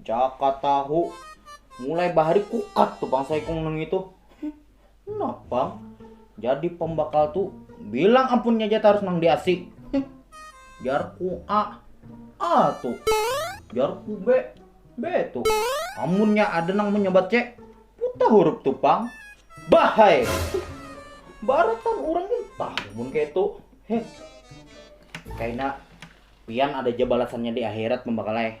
Jaka tahu mulai bahari kukat tuh bang saikung nang itu. Nah bang, jadi pembakal tuh bilang ampunnya aja harus nang diasi. Jar ku A, A tuh. Jar ku B, B tuh. Amunnya ada nang menyebat C, puta huruf tuh bang. Bahai. Baratan orang pun tahu pun kayak itu. Heh. Kayaknya pian ada aja balasannya di akhirat pembakalai.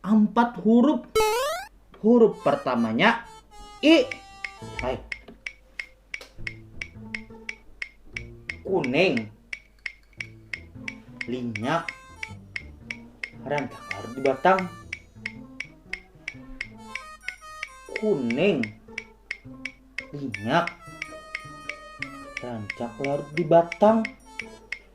ampat hurup hurup pertamanya i hai kuning linyak rantak harus di batang kuning minyak rancak larut di batang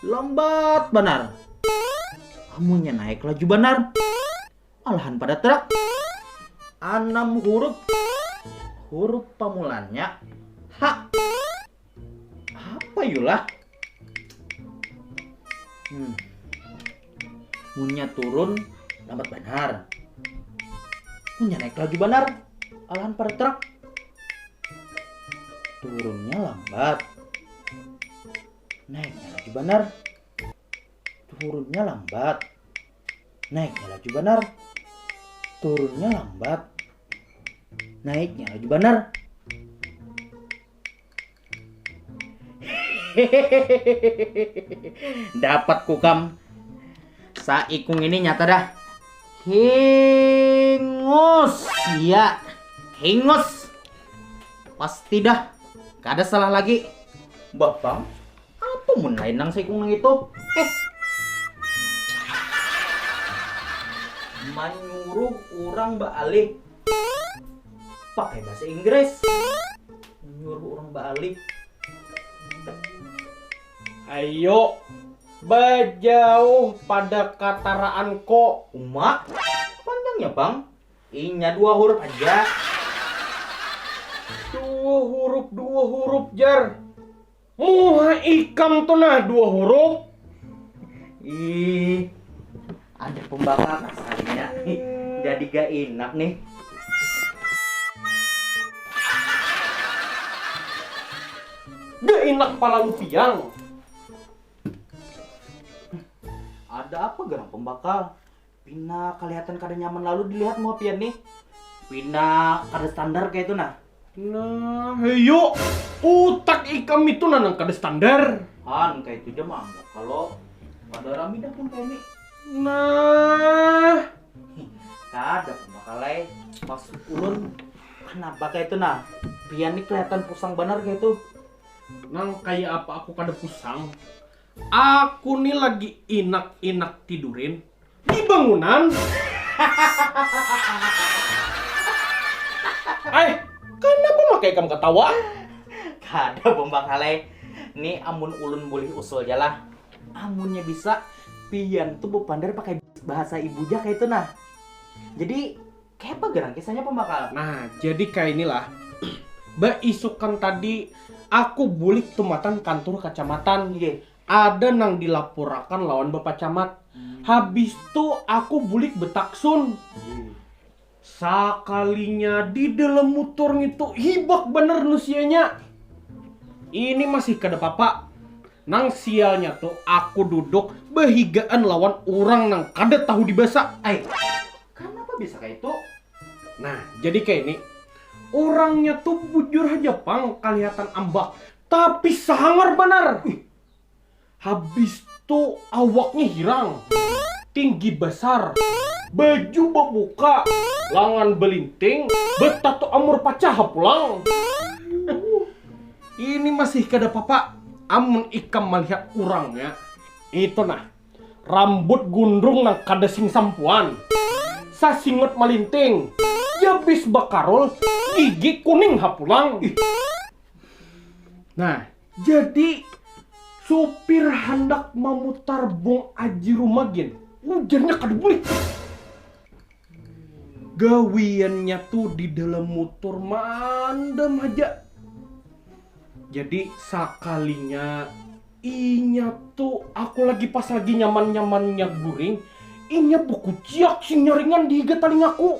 Lambat banar. Amunnya naik laju banar. Malahan pada truk. Anam huruf. Huruf pamulannya H. Apa yulah? Hmm. Munnya turun lambat banar. Munnya naik laju banar. Alahan pada truk. Turunnya lambat. Naiknya laju banar. Turunnya lambat. Naiknya laju banar. Turunnya lambat. Naiknya laju banar. Dapat kukam. Saikung ini nyata dah. Hingus. Ya. Hingus. Pasti dah, kada salah lagi. Bah bang, apa mun lain nang saikung nang itu? Eh. Manyuruh orang baalih pakai bahasa Inggris. Manyuruh orang baalih. Ayo, bajauh pada kataraan ko. Uma, panjangnya bang. Inya dua hurup haja. Dua hurup, dua hurup jar. Muha ikam tu nah dua hurup. Ih, ada pembakar rasanya. Jadi gak enak nih. Gak enak pala lupiang. Ada apa gerang pembakar? Pina kalihatan kada nyaman lalu dilihat muha pian nih. Pina kada standar kaya itu nah. Nah, heyo. Utak ikam itu nah nang kada standar. Han, kaya itu ja maanggap kalo kada rami dah pun kaya nih. Nah. Kada pang bakalai. Maksud ulun, kanapa kaya itu nah. Pian nih kalihatan pusang banar kaya itu. Nang kaya apa aku kada pusang. Aku ni lagi inak inak tidurin di bangunan hahahahahahaha ai kanapa maka ikam katawa kada bombang halai ni amun ulun bulih usul ja lah amunnya bisa pian tu bepander pakai bahasa ibu ja kaitu nah jadi. Kaya apa gerang kisahnya pambakal? Nah, jadi kainilah. Baisukan tadi aku bulik tumatan kantur kacamatan. Iye. Ada nang dilapurakan lawan Bapak Camat. Habis tu aku bulik betaksun. Sakalinya di dalam mutur ngitu hibak banar nusianya. Ini masih kada papa. Nang sialnya tu aku duduk behigaan lawan urang nang kada tahu dibasa. Ai. Kanapa bisa kaitu? Nah, jadi kaini, urangnya tu bujur haja pang kalihatan ambak, tapi sangar banar! Habis tu awaknya hirang, tinggi basar, baju babuka, langan balinting, batatu amur pacaha pulang. Ini masih kada papa amun ikam malihat urangnya. Itu nah. rambut gundrung nang kada sing sampuan, sasingut malinting, jabis bakarul, gigi kuning ha pulang. Nah, jadi supir handak mamutar bung aji rumah gin, ujarnya kada bulik. gawiannya tu di dalam mutur maandam haja. Jadi sakalinya inya tu aku lagi pas lagi nyaman-nyamannya guring, inya bakuciak sinyaringan di higa talingaku,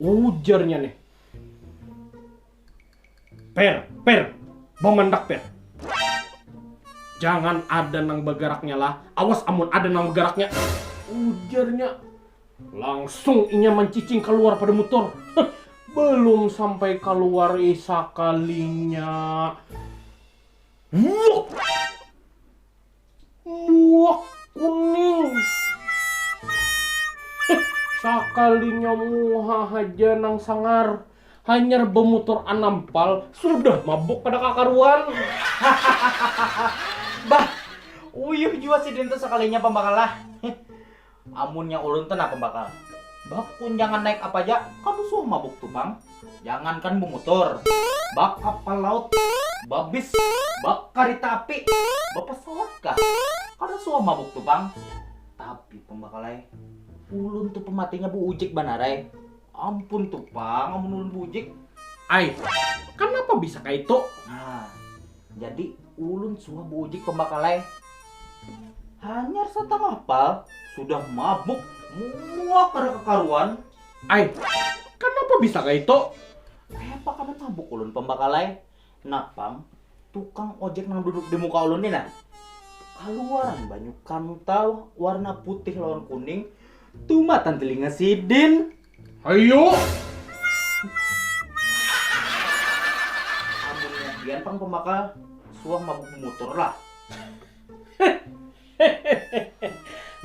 ujarnya nih. Per, per, bamandak per. Jangan ada nang bagaraknya lah, awas amun ada nang bagaraknya, ujarnya. Langsung inya mancicing kaluar pada mutur. Huh, balum sampai kaluar ih sakalinya, wuk! Muak kuning. Sakalinya muha haja nang sangar, hanyar bamutur anam pal sudah mabuk kada kakaruan. Hahahaha. Bah, uyuh jua sidin tu sakalinya pambakalah. Amunnya ulun tu nah pambakal, bak kunjangan naik apa ja kada suah mabuk tu pang, jangankan bumutur, bak kapal laut, babis, bak karita api, bapasawat kah kada suah mabuk tu pang, tapi pambakal ai ulun tu pamatinya buujik banar ai, ampun tu pang amun ulun buujik. Ai, kanapa bisa kaitu? Nah. Jadi ulun suah buujik pambakal ai. Hanyar satangah pal sudah mabuk muak kada kakaruan. Ai, kanapa bisa kaitu? Kayapa kada mabuk ulun pambakal ai. Napang tukang ojek nang duduk di muka ulun ni nah, kaluaran banyu kantau warna putih lawan kuning tumatan tilinga sidin. Ayo. Amunnya pian pang pembakal, suah mabuk bumutur lah.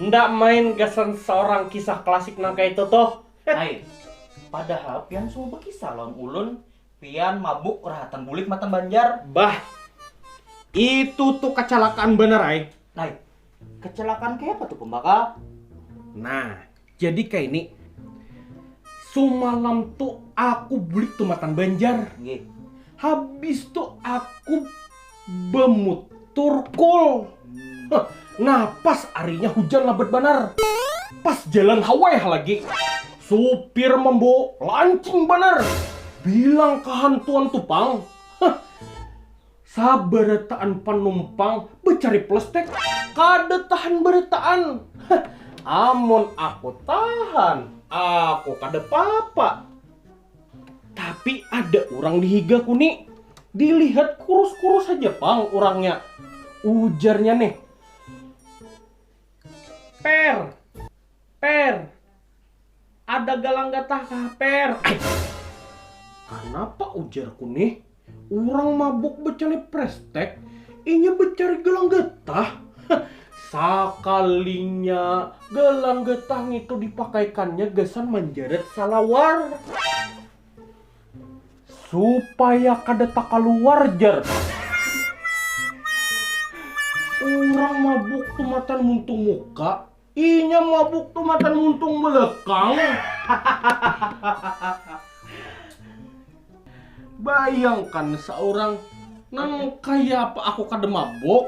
Enda main gasan saurang kisah klasik nang kaitu tuh. Ai, padahal pian suah bakisah lawan ulun pian mabuk rahatan bulik matan Banjar. Bah, itu tuh kacalakaan banar ai. Ai, kecelakaan kayak apa tuh pembakal nah jadi kayak ini sumalam tuh aku beli tumatan banjar Nggih. habis tuh aku bemut turkul Hah, nah pas arinya hujan lebat banar pas jalan haweh lagi supir membo lancing banar bilang kehantuan tupang Hah, Sabarataan panumpang bacari plastek kada tahan barataan. Amun aku tahan, aku kada papa. Tapi ada urang di higaku ni, dilihat kurus-kurus haja pang urangnya. Ujarnya nih, Per, Per, Ada galang gatah ka haper. Kanapa ujar ku nih, urang mabuk becale prestek inya becari galang gatah? Sakalinya galang gatah ngitu dipakaikannya gasan manjarat salawar. Supaya kada takaluar jar ku. Urang mabuk tumatan muntung muka. Inya mabuk tu matan muntung belekang. Bayangkan seorang nang kaya apa aku kada mabuk.